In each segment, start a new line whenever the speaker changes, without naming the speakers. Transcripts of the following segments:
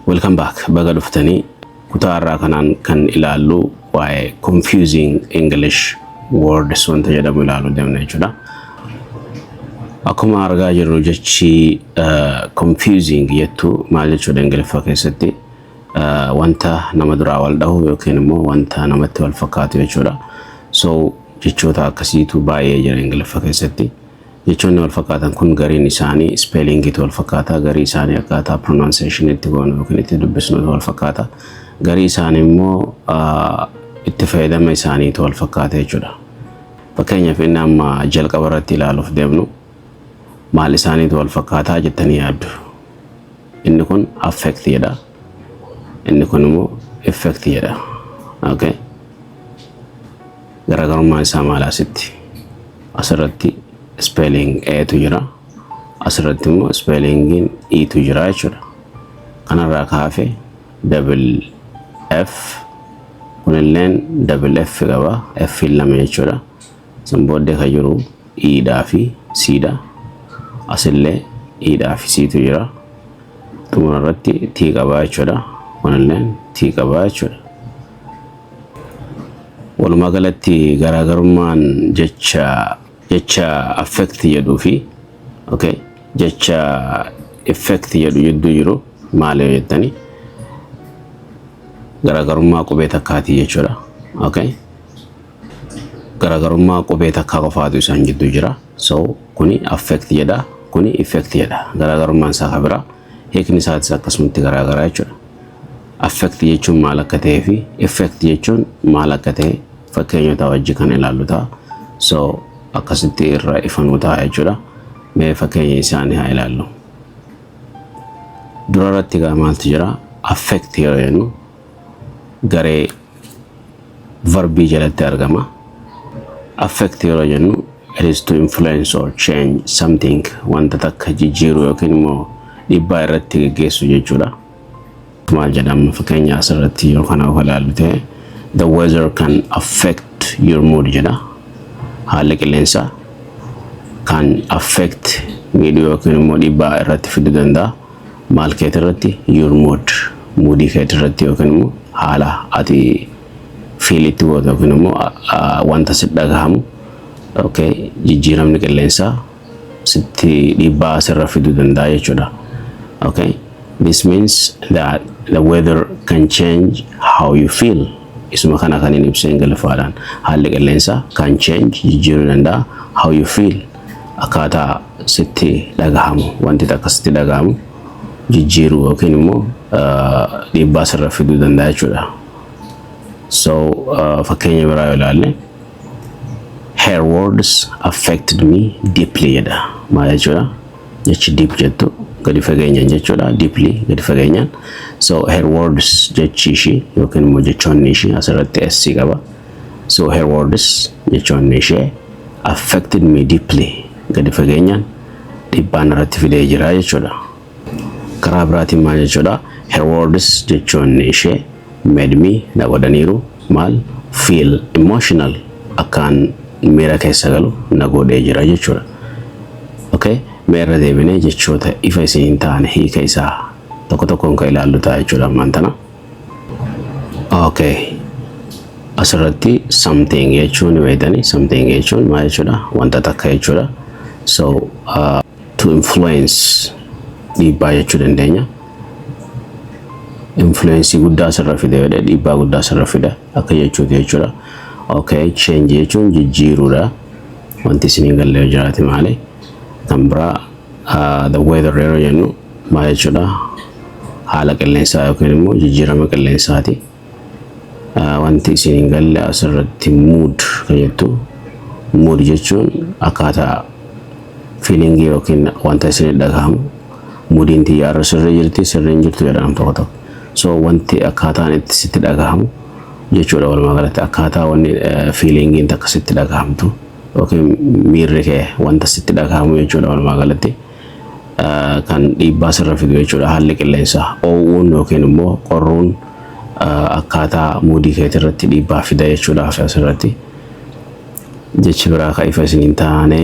Welcome back. Baga dhuftanii. Kutaa irraa kanaan kan ilaallu waa'ee confusing English words wanta jedhamu ilaaluu deemna jechuudha. Akkuma argaa jirru jechi eh, confusing jettu maal jechuudha Ingiliffaa keessatti Eh, wanta nama duraa wal dhahu yookiin immoo wanta namatti wal fakkaatu jechuudha. So jechoota akkasiitu baay'ee jira Ingiliffa keessatti. Jechoonni walfakkaatan kun gariin isaanii ispeelingiitu walfakkaata, garii isaanii akkaataa pronunciation itti goonu yookiin itti dubbisnutu walfakkaata, garii isaanii immoo itti fayyadama isaaniitu walfakkaata jechuudha. Fakkeenyaaf inni amma jalqaba irratti ilaaluuf deemnu maal isaaniitu walfakkaataa jettanii yaaddu. Inni kun affect jedha. Inni kun immoo effect jedha. Okay. Garaagarummaan isaa maal asitti? Asirratti spelling A tu jira. Asirratti immoo spellingiin E tu jira jechuudha. Kanarraa kaafe double F kunilleen double F qaba. F lama jechuudha. San booddee kan jiru E dhaa fi C dha. Asillee E dhaa fi C tu jira. Xumura irratti T qaba jechuudha. Kunilleen T qaba jechuudha. Walumaa galatti garaagarummaan jecha jecha affect jedhuu fi okay, jecha effect jedhu jidduu jiru maal yoo jettani garaagarummaa qubee takkaatii jechuudha. Okay. Garaagarummaa qubee takkaa qofaatu isaan jidduu jira. So kuni affect jedha kuni effect jedha garaagarummaan isaa kan biraa hiikni isaatis akkasumatti garaagaraa jechuudha. affect jechuun maal akka ta'ee fi effect jechuun maal akka ta'e fakkeenyota wajji kan ilaallu ta'a. So akkasitti irra ifanuu ta'a jechuudha. Mee fakkeenya isaanii haa ilaallu. Dura irratti egaa maaltu jira? Affect yoo jennu garee verbii jalatti argama. Affect yeroo jennu it is to influence or change something wanta takka jijjiiru yookiin immoo dhibbaa irratti geggeessu jechuudha. Maal jedhama fakkeenya asirratti yoo kana of ilaallu ta'e the weather can affect your mood jedha. Haalli qilleensaa kan affect miidhuu yookiin immoo dhibbaa irratti fiduu danda'a. Maal keet irratti your mood muudii keet irratti yookiin immoo haala ati feel itti gootu yookiin immoo a- a- wanta si dhagahamu okay, jijjiiramni qilleensaa sitti dhiibbaa sirra fiduu danda'a jechuudha. Okay? This means that the weather can change how you feel. Isuma kana kan hin ibseen galafaadhaan haalli qilleensaa can change jijjiiruu danda'a how you feel akkaataa sitti dhagahamu wanti takka sitti dhagahamu jijjiiruu yookiin immoo dhiibbaa sirra fiduu danda'a jechuudha. So fakkeenya biraa yoo ilaalle her words affected me deeply jedha. Maal jechuudha? Jechi deep jettu gadi fageenyaan jechuudha. Deeply gadi fageenyaan. So her words jechi ishii yookiin immoo jechoonni ishii asirratti S qaba. So her words jechoonni ishee affected me deeply gadi fageenyaan dhiibbaa narratti fidee jira jechuudha. Karaa biraatiin maal jechuudha? Her words jechoonni ishee made me na godhaniiru maal feel emotional akkaan miira keessa galu na godhee jira jechuudha. Okay? Mee irra deebinee jechoota ifa isin hin taane hiika isaa tokko tokkoon kan ilaallu ta'a jechuudha ammaan tana. okay asirratti something jechuun ni beektanii something jechuun maal jechuudha wanta takka jechuudha so uh, to influence dhiibbaa jechuu dandeenya influence guddaa asirra fide jedhe dhiibbaa guddaa asirra fida akka jechuuti jechuudha okay change jechuun jijjiiruudha wanti isin hin galle yoo jiraate maali kan biraa uh, the weather yeroo jennu Maal jechuudha? Haala qilleensaa yookiin immoo jijjiirama qilleensaati. Ah, Wanti isin hin galle asirratti mood kan jettu mood jechuun akkaataa fiilingii yookiin wanta isin dhagahamu muudiin tiyya irra sirrii jirti sirrii hin jirtu jedhan tokko tokko. So wanti akkaataan itti sitti dhagahamu jechuudha walumaa galatti akkaataa wanni eh, fiilingiin takka sitti dhagahamtu yookiin miirri kee wanta sitti dhagahamu jechuudha walumaa galatti. kan dhiibbaa sirra fidu jechuudha haalli qilleensaa. Oo'uun yookiin immoo qorruun akkaataa muudii keetii irratti dhiibbaa fida jechuudha hafe asirratti. Jechi biraa kan ifa isin hin taane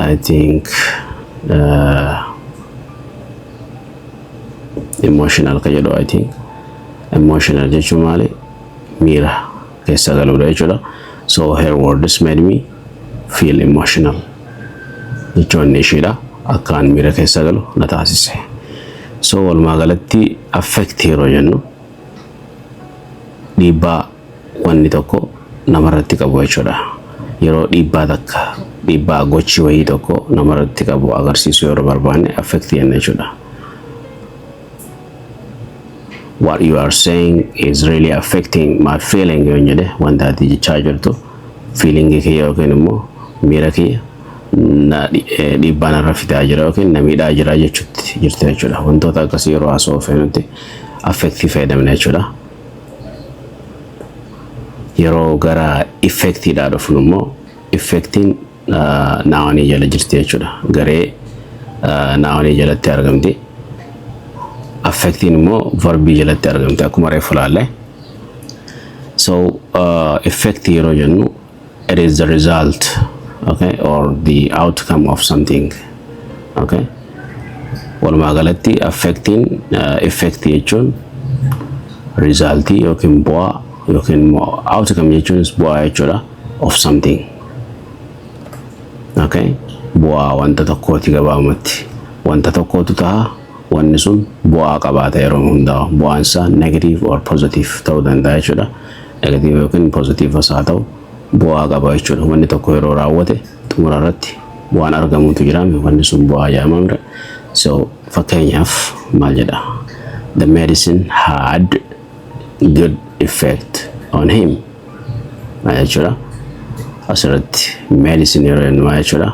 I think emotional kan jedhu I think emotional jechuun maali miira keessa galuudha jechuudha. So her words made me feel emotional jechoonni ishiidha akkaan miira keessa galu na taasise so walumaa galatti affect yeroo jennu dhiibbaa wanni tokko namarratti qabu jechuudha yeroo dhiibbaa takka dhiibbaa gochi wayii tokko namarratti qabu agarsiisu yeroo barbaanne affect jenna jechuudha. what you are saying is really affecting my feeling yoo jedhe wanta ati jechaa jirtu feeling kee yookiin immoo miira kee na dhi- eh, dhiibbaa narra fidaa jira yookiin na miidhaa jira jechuutti jirti jechuudha. Wantoota akkasii yeroo haasa'uu feenutti affektii fayyadamna jechuudha. Yeroo gara effektiidhaa dhufnu immoo effektiin naawanii jala jirti jechuudha. Garee naawanii jalatti argamti. Affektiin immoo varbii jalatti argamti akkuma reefu laalle. So effect yeroo jennu it is the result okay or the outcome of something okay. Walumaa galatti affektiin effect jechuun result yookiin bu'aa yookiin immoo outcome jechuunis bu'aa jechuudha. of something okay bu'aa wanta tokkooti gabaabumatti wanta tokkootu taha wanni sun bu'aa qabaata yeroo hundaa bu'aan isaa negative or positive ta'uu danda'a jechuudha negative yookiin positive as haa ta'u bu'aa qaba jechuudha wanni tokko yeroo raawwate xumura irratti waan argamutu jira wanni sun bu'aa jedhama mire so fakkeenyaaf maal jedha the medicine had good effect on him maal jechuudha asirratti medicine yeroo jennu maal jechuudha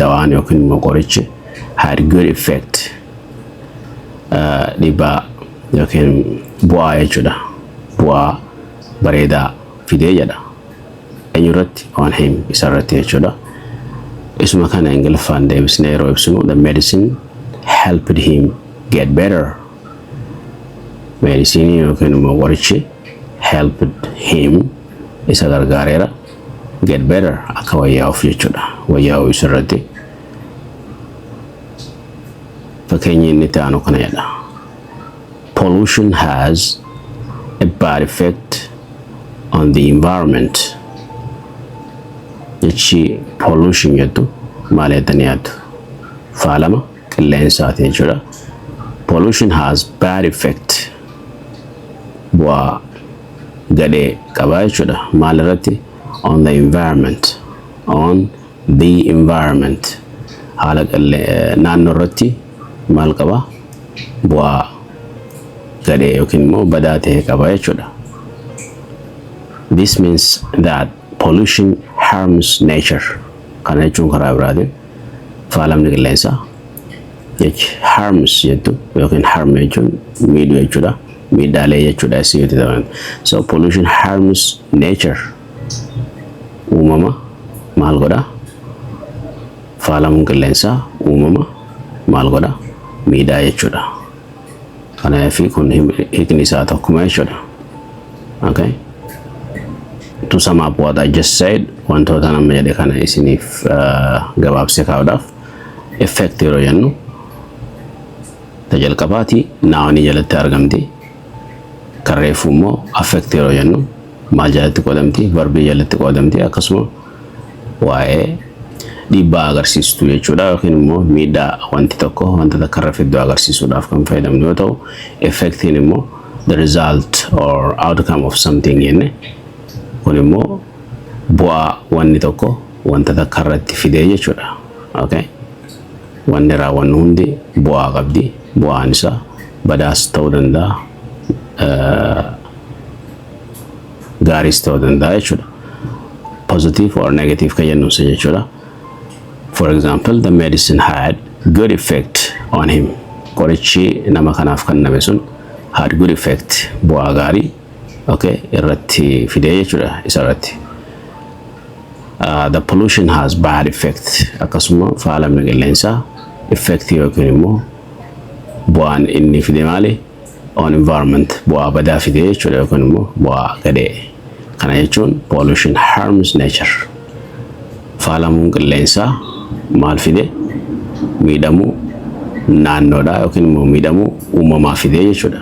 dawaan yookiin immoo qorichi had good effect uh, dhibbaa yookiin bu'aa jechuudha bu'aa bareedaa fidee jedha eenyurratti on him isarratti jechuudha isuma kana ingiliffaan deebisnee yeroo ibsinu the medicine helped him get better meedisinii yookiin immoo qorichi helped him isa gargaareera get better akka wayyaa'uuf jechuudha wayyaa'uu isa irratti fakkeenyi inni itti aanu kana jedha pollution has a bad effect on the environment jechi pollution jettu maal jettanii yaaddu faalama qilleensaati jechuudha. Pollution has bad effect bu'aa gadhee qabaa jechuudha. Maal irratti? On the environment. On the environment. Haala naannoo irratti maal qaba? Bu'aa gadhee yookiin immoo badaa ta'e qaba jechuudha. This means that Pollution harms nature. Kana jechuun karaa biraatiin faalamni qilleensaa jechi harms jettu yookiin harm jechuun miidhuu jechuudha. Miidhaalee jechuudha isii yoo ta'an. So pollution harms nature. Uumama maal godha? Faalamuun qilleensaa uumama maal godha? Miidhaa jechuudha. Kana F kun hiikni isaa tokkuma jechuudha. Okay. To sum up what I just said, wantoota nama jedhe kana isiniif gabaabsee kaa'uudhaaf effect yeroo jennu ta jalqabaati naawanii jalatti argamti. Kan reefuu immoo affect yeroo jennu maal jalatti qoodamti, varbii jalatti qoodamti akkasuma waa'ee dhiibbaa agarsiistu jechuudha yookiin immoo miidhaa wanti tokko wanta takka irra fiddu agarsiisuudhaaf kan fayyadamnu yoo ta'u effektiin immoo the result or outcome of something jenne kun immoo bu'aa wanni tokko wanta takka irratti fidee jechuudha okay wanni raawwannu hundi bu'aa qabdi bu'aan isaa badaas ta'uu danda'a gaariis ta'uu danda'a jechuudha. Positive or negative kan jennu isa jechuudha. For example, the medicine had good effect on him. Qorichi nama kanaaf kenname sun had good effect bu'aa gaarii okay, irratti fidee jechuudha isa irratti. Uh, the pollution has bad effect akkasuma faalamni qilleensaa effect yookiin immoo bu'aan inni fide maali? on environment bu'aa badaa fidee jechuudha yookaan immoo bu'aa gadhee. Kana jechuun pollution harms nature. Faalamuun qilleensaa maal fide miidhamuu naannoodhaa yookiin immoo miidhamuu uumamaa fidee jechuudha.